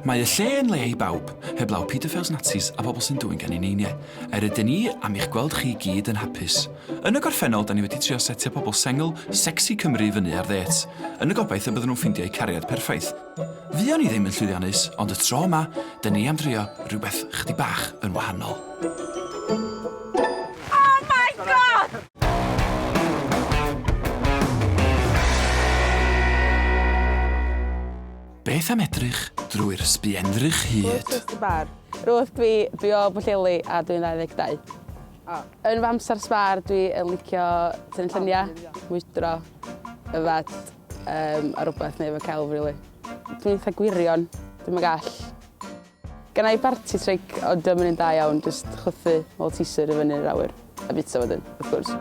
Mae y lle yn le i bawb, heblaw paedofils Nazis a pobl sy'n dwyn gan ei neiniau. Yr ydyn ni am i'ch gweld chi i gyd yn hapus. Yn y gorffennol, 'da ni wedi trio setio pobl sengl, secsi Cymru i fyny ar ddêts, yn y gobaith y bydden nhw'n ffeindio eu cariad perffaith. Fuon ni ddim yn llwyddiannus, ond y tro yma, 'da ni am drio rhywbeth chydig bach yn wahanol. Beth am edrych drwy'r sbienddrych hyd? Rwyf dwi, dwi o Bwlleli a dwi'n 22. Oh. Yn fy amser sbar dwi yn licio tynnu lluniau, mwydro, yfed um, a rhywbeth neu efo celf, really. Dwi'n eitha gwirion, dwi'n yn gall. Gynna i barti tric ond dio'm yn un da iawn, jyst chwythu Malteser i fyny'r awyr a bwyta wedyn, wrth gwrs.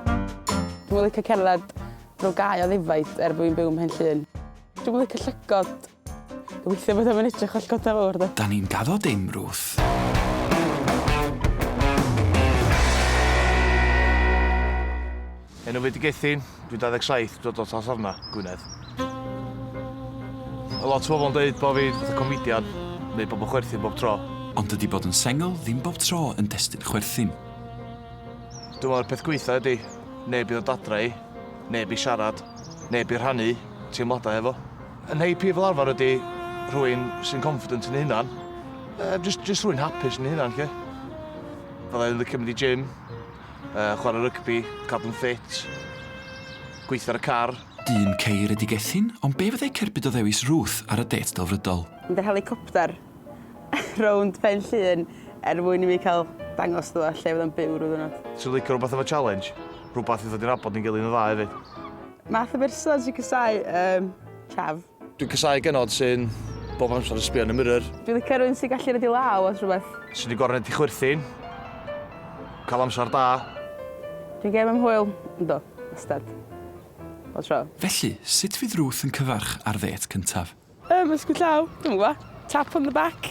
Dwi'm yn licio cerdded drwy gae o ddefaid er bo' fi'n byw ym Mhenllyn. Dwi'm yn licio llygod. Gobeithio bod o'm yn edrych fel llygod da fawr 'de. 'Da ni'n gaddo dim, Ruth. Enw fi 'di Gethin, dwi'n 27, dod o Talsarna, Gwynedd. Ma' lot o bobl yn deud bo' fi fatha comedian, neu bobl chwerthin bob tro. Ond dydi bod yn sengl ddim bob tro yn destun chwerthin. Dwi me'wl y peth gwaetha ydi, neb i ddod adra i, neb i siarad, neb i rhannu teimlada hefo. Yn happy fel arfar ydi rhywun sy'n confident yn ei hunan, yy jyst jyst rhywun hapus yn ei hunan 'lly. Fyddai'n licio mynd i gym, Yy, chwarae rygbi, cadw'n ffit, gweithio ar y car. Dyn caeredigethyn, ond be fyddai cerbyd o ddewis Ruth ar y dêt delfrydol? Mynd ar helicopter rownd Pen Llŷn er mwyn i mi cael dangos iddo fo lle fydd o'n byw ryw ddiwrnod. Ti'n licio rhywbeth efo challenge? Rhywbeth i ddod i nabod ni'n gilydd yn dda hefyd. Math o berson sy'n casáu, yym, chav. Dwi'n casau genod sy'n bob amser yn sbio yn y mirror. Dwi'n licio rhywun sy'n gallu rhedeg law os rhywbeth. Sydd wedi gorfod rhedeg chwerthin. Cael amser da. Dwi'n gêm am hwyl. Yndw, wastad. Bob tro. Felly, sut fydd Ruth yn cyfarch ar ddêt cyntaf? Ymysgwyd llaw? Dwi'm yn gwybod. Tap on the back?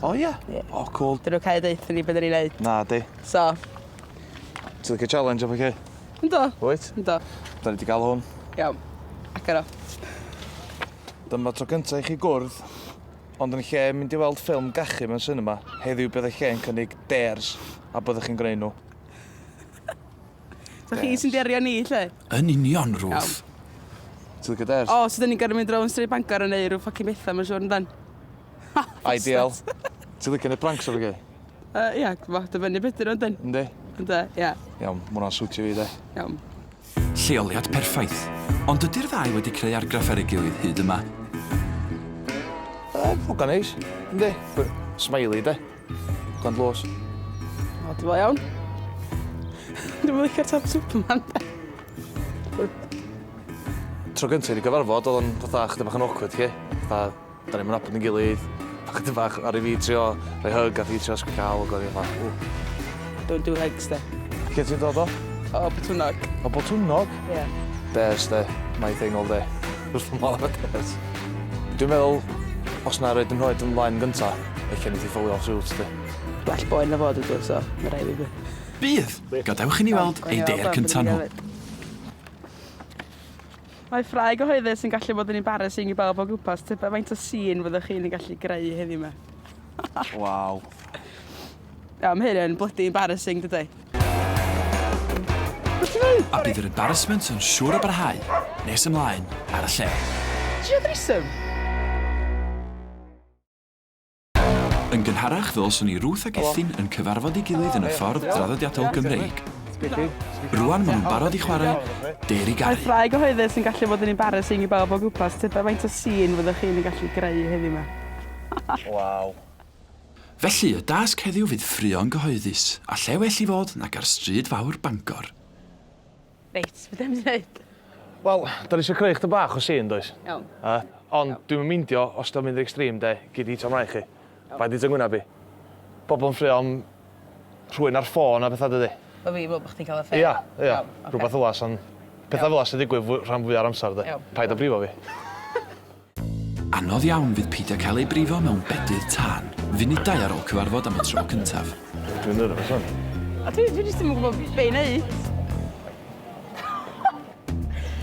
O ia? Ie. O cwl. 'Dyn nw cau deutho ni be' 'da ni neud. Nadi. So. Ti licio challenge a pethe? Yndw. Wyt? Yndw. 'Dan ni 'di ga'l hwn. Iawn. Agor o. Dyma tro cynta i chi gwrdd, ond yn lle mynd i weld ffilm gachu mewn sinema, heddiw bydd eich lle yn cynnig dares, a byddwch chi'n gwneud nhw. So chi sy'n derio ni, lle? Yn union, Ruth. Ti'n licio dares? O, so 'dyn ni'n gorfod mynd rownd stryd Bangor yn neu' rw ffocin betha ma'n siŵr yndan? Ideal. Ti licio neud pranks efo fi? Yy ia t'mo' dibynnu be' 'di n'w yndyn? Yndi. Ynde ia. Iawn ma' wnna'n siwtio fi 'de. Iawn. Lleoliad perffaith, ond ydi'r ddau wedi creu argraff ar ei gilydd hyd yma? Yy hogan neis. Yndi. By- smiley 'de? Hogan dlws. O dwi fel iawn. Dwi'm yn licio'r top superman 'de? Tro gynta i ni gyfarfod o'dd o'n fatha chydig bach yn awkward 'lly. Fatha Da ni'm yn nabod ein gilydd, chydig bach ar i fi trio rhoi hug a fi trio sgwcio awl ac o'n i fatha ww. Don't do hugs de. Lle ti'n dod o? O Botwnnog. O Botwnnog? Ie. Bears de, my thing all day. Wrth fy modd efo bears. Dwi'n meddwl, os na roed yn nhroed yn flaen gynta, ella neith i ffowlio off suits de. Gwell boen na fod ydw, so ma rai fi gwe. Bydd! Gadewch i ni weld ei dêr cynta nhw. Mae ffrae gyhoeddus yn gallu bod yn embarrassing i bawb o gwmpas, tybed faint o sîn fyddwch chi'n ei gallu greu heddiw 'ma? Waw. Iawn, mae hyn yn blydi embarrassing, dydy? Be ti'n neud? A bydd yr embarrassment yn siŵr o barhau nes ymlaen ar y lle. Ti isio threesome? Yn gynharach fe welson ni Ruth ac Ethyn yn cyfarfod ei gilydd yn y ffordd draddodiadol Gymreig. Rŵan maen nhw'n barod i chwarae Dêr i Gau. Mae ffrae gyhoeddus yn gallu bod yn embarrassing i bawb o gwmpas, tybed faint o sîn fyddwch chi'n ei gallu greu heddiw 'ma? Waw! Felly, y dasg heddiw fydd ffraeon gyhoeddus, a lle well i fod nag ar stryd fawr Bangor. Reit, be 'dan ni'n mynd i neud? Wel, 'dan ni isio creu chydig bach o scene, does? Iawn. Yy, ond dwi'm yn meindio os 'di o'n mynd yn extreme, 'de, gei di taro 'mlaen chi. Paid deud 'to ngwyneb i. Pobol yn ffraeo am rhywun ar ffôn a petha, dydi? Bo' fi'n me'wl bo' chdi'n ca'l affair? Ia, ia. Iawn, ocê. Rwbath fel 'a sa'n... Petha fel 'a sy'n digwydd fw- rhan fwya'r amsar, 'de? Iawn. Paid â brifo fi. Anodd iawn fydd peidio cael ei brifo mewn bedydd tân, funudau ar ôl cyfarfod am y tro cyntaf. Dwi'n nyrfys wan. A dwi, dwi jyst ddim yn gwybod be i wneud.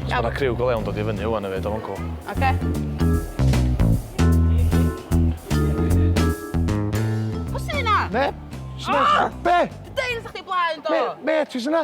Mae yna criw go lewn dod i fyny wan efyd, o'n cwl. Oce. Neb! Sut mae... Be? Dwi deud wrthach chdi blaen do! Be? Be? Ti sy'n na?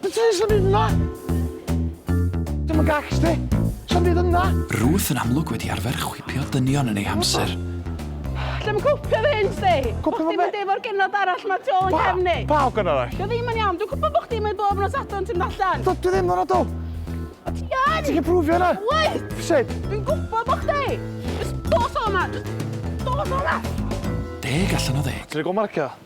Be ti isio neud yna? Dwi'm yn gacs ti. Sa'm byd yna. Ruth yn amlwg wedi arfer chwipio dynion yn ei hamser. Lle ma cwpio fy hyn sti? Bo chdi'n mynd efo'r genod arall ma tu ôl yn cefn i. Pa ogyn arall? Dio ddim yn iawn, dwi'n gwybod bo chdi'n mynd bob nos adre'n ti'n mynd allan. Dydw i ddim yn adw. O ti yn! Ti'n gallu prwfio hynna? Wyt! Sut? Dwi'n gwybod bo chdi! Jyst dos o yma! Jyst dos o yma! Deg allan o ddeg. Ti'n rhoi go marcio?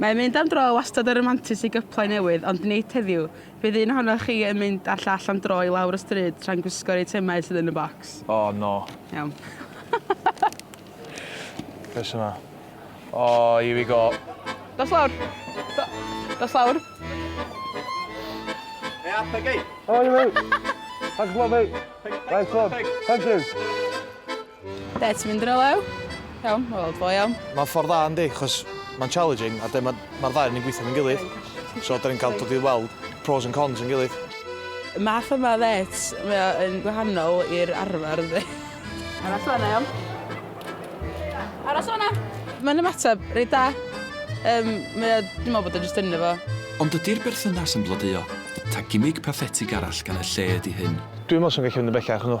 Mae mynd am dro wastad yn ramantus i gyplau newydd ond nid heddiw, bydd un ohonoch chi yn mynd â'r llall am dro i lawr y stryd tra'n gwisgo'r eitemau sydd yn y bocs. O, no. Iawn. Beth sy'ma? O, here we go. Dos lawr. Do, dos lawr. Hea, Peggy. How are you, mate? Thanks a lot, mate. Nice one. Thank you. Be ti'n mynd rywle? Iawn, wel, ddo iawn. Mae'n ffordd dda yndi, chos mae'n challenging a mae'r ma ddau yn gweithio yn gilydd. So, da ni'n cael dod i weld pros and cons yn gilydd. Y math yma ddet, mae o'n gwahanol i'r arfer yndi. Aros fanna, iawn. Aros fanna. Mae'n ymateb reit da. Um, mae o, dwi'n meddwl bod o'n just ynddo fo. Ond ydy'r berthynas yn blodeuo? Ta gimig pathetig arall gan y lle ydy hyn? Dwi'n meddwl sy'n gallu mynd yn bellach nhw.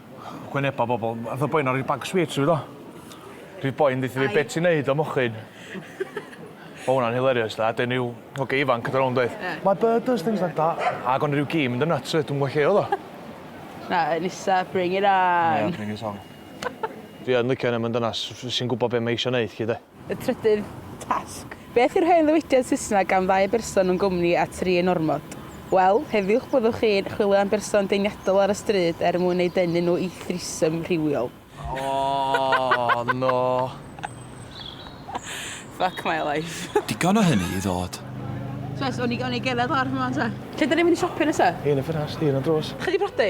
Wyneba bobl. Ath y boi 'na roi bag sweets i fi do. Di'r boi'n deutho fi be' ti'n neud o mochyn. O' wnna'n hilarious de a 'dyn ryw hogia ifanc yn dod rownd doedd? Ie. My bird does things like that. Ag o' 'na ryw gi yn mynd yn nyts 'fyd dwi'm yn gwbo lle o'dd o. Na yy Nisa bring it on. Ie bring it on. Fi yn licio 'na ma'n dynas f- sy'n gwbo be' mae eisio neud 'lly de? Y trydydd tasg. Beth yw'r hen ddywediad Saesneg am ddau berson yn gwmni a tri yn ormod? Wel, heddiwch byddwch chi'n chwilio am berson deniadol ar y stryd er mwyn eu denu nhw i threesome rhywiol. Oh no. Fuck my life. Digon o hynny i ddod. Jess, o'n i geledd lawr ffor 'ma 'wan 'te. Lle 'dan ni'n mynd i siopio nesa? Yn y ffenast, un ar drws. Chi 'di prodi?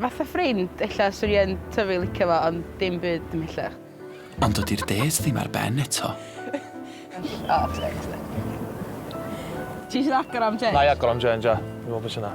Fatha ffrind, ella 'swn i yn tyfu licio fo ond dim byd ymhellach. Ond dydi'r dêt ddim ar ben eto. O teg ti. Ti isio agor am change? Na'i agor am change ia. Dwi me'wl be' sy 'na.